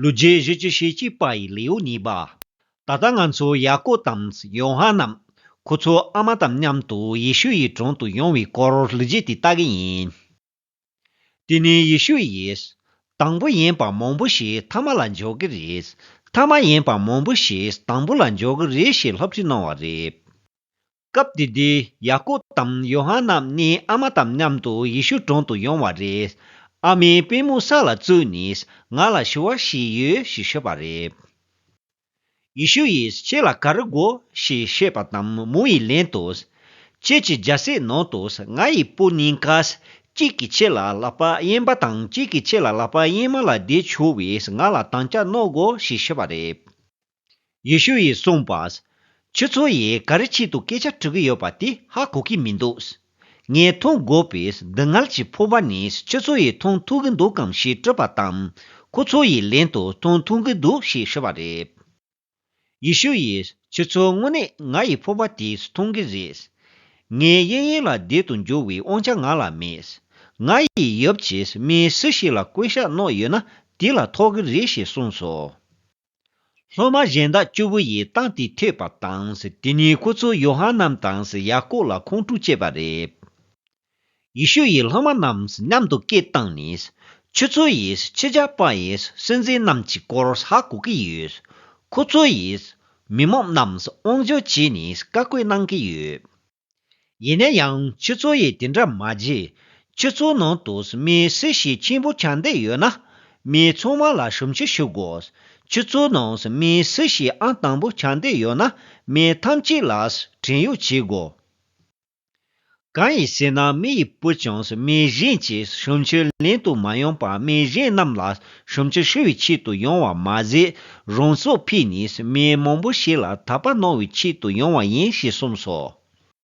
ལུས་རྗེས་གཞི་བཅུ་ཞེ་གཅིག་པ་ཡི་ལེའུ་གཉིས་པ། ད་ལྟ་ང་ཚོ་ཡ་ཀོབ་དང་ཡོ་ཧ་ནན་ཁོ་ཚོ་ཨ་མ་དང་མཉམ་དུ་ཡེ་ཤུ་ཡི་དྲུང་དུ་ཡོང་བའི་སྐོར་ལུས་རྗེས་དེ་ལྟ་གི་ཡིན། དེ་ནི་ཡེ་ཤུ་ཡིས། དང་པོ་ཡིན་པ་མང་པོ་ཞིག་མཐའ་མ་ལ་འཇོག་གི་རེད། མཐའ་མ་ཡིན་པ་མང་པོ་ཞིག་དང་པོ་ལ་འཇོག་གི་རེད་ཞེས་སློབ་ཁྲིད་གནང་བ་རེད། སྐབས་དེ་དུས་ཡ་ཀོ་དང་ཡོ་ཧ་ནམ་གཉིས་ཨ་མ་དང་མཉམ་དུ་ཡེ་ཤུ་དྲུང་དུ་ཡོང་བ་རེད། ཨ་མའི་པུས་མོ་ས་ལ་བཙུགས་ནས་ང་ལ་ཞུ་བ་ཞིག་ཡོད་ཞེས་ཤོད་པ་རེད། ཡེ་ཤུ་ཡིས་ཁྱེད་ལ་ག་རེ་དགོས་ཞེས་བཤད་པ་དང་མོ་ཡི་ལན་དུ། ཁྱེད་ཀྱི་རྒྱལ་སའི་ནང་དུ་ང་ཡི་སྤུན་གཉིས་ཀ། གཅིག་གིས་ཁྱེད་ལ་ལག་པ་གཡེན་པ་དང་གཅིག་གིས་ཁྱེད་ལ་ལག་པ་གཡེན་མ་ལ་བསྡད་ཆོག་བས་ང་ལ་དང་བཅའ་གནང་དགོས་ཞེས་ཤོད་པ་རེད། ཡེ་ཤུ་ཡིས་གསུངས་པ། ཁྱོད་ཚོ་ཡིས་ག་རེ་ཆེད་དུ་སྐད་ཆ་དྲི་གི་ཡོད་པ་དེ་ཧ་གོ་གི་མི་འདུག། ངས་མཐོང་དགོས་པའི་སྡུག་བསྔལ་གྱི་ཕོར་པ་ནི་ཁྱོད་ཚོ་ཡིས་མཐོང་ཐུབ་གི་འདུག་གམ་ཞེས་དྲིས་པ་དང། ཁོ་ཚོ་ཡིས་ལན་དུ་མཐོང་ཐུབ་གི་འདུག་ཞེས་ཤོད་པ་རེད། ཡེ་ཤུ་ཡིས་ཁྱོད་ཚོ་དངོས་གནས་ང་ཡི་ཕོར་པ་དེ་མཐོང་གི་རེད། ངའི་གཡས་གཡོན་ལ་བདེ་དུ་འགྱུར་བའི་དབང་ཆ་ང་ལ་མེད། ང་ཡི་ཡབ་ཀྱིས་མི་སུ་ཞིག་ལ་བསྐོས་ཤ་བསྣོགས་ཡོད་ན་དེ་ལ་ཐོགས་གི་རེད་ཞེས་གསུངས་སོ། སློབ་མ་གཞན་དག་བཅུ་བོ་ཡིས་རྟགས་དེ་ཐོས་པ་དང། དེ་ནས་ཁོ་ཚོས་ཡོ་ཧ་ནན་དང་ཡ་ཀོབ་ལ་ཁོང་ཁྲོ་བསྐྱེད་པ་རེད། ཡེ་ཤུ་ཡིས་སློབ་མ་རྣམས་མཉམ་དུ་སྐད་བཏང་ནས། ཁྱོད་ཚོ་ཡིས་ཁྱི་ཇག་པ་ཡི་སྲིད་འཛིན་རྣམས་ཀྱི་སྐོར་ཧ་གོ་གི་ཡོད། ཁོ་ཚོ་ཡིས་མི་མང་རྣམས་དབང་འབྱོར་བྱས་ནས་བཀའ་བཀོད་གནང་གི་ཡོད། ཡིན་ན་ཡང་ཁྱེད་ཚོ་ཡིས་དེ་འདྲ་མ་བྱེད། ཁྱེད་ཚོའི་ནང་དུ་མི་སེར་ཞིག་ཆེན་པོ་ཆགས་འདོད་ཡོད་ན། མི་ཚང་མ་ལ་ཞུམ་ཆུ་ཞུ་དགོས། ཁྱེད་ཚོའི་ནང་མི་སེར་ཞིག་ཨང་དང་པོ་ཆགས་འདོད་ཡོད་ན་མི་ཐམས་ཅད་ལ་བྲན་གཡོག་བྱེད་དགོས། གང་ཡིན་ཟེར་ན་མི་ཡི་བུ་ཀྱང་མི་གཞན་གྱིས་ཞུམ་ཆུ་ལེན་དུ་མ་ཡོང་པར་མི་གཞན་རྣམས་ལ་ཞུམ་ཆུ་ཞུ་བའི་ཆེད་དུ་ཡོང་བ་མ་ཟད། རང་སྲོག་ཕུལ་ནས་མི་མང་པོ་ཞིག་ལ་དག་པ་གནང་བའི་ཆེད་དུ་ཡོང་བ་ཡིན་ཞེས་གསུངས་སོ།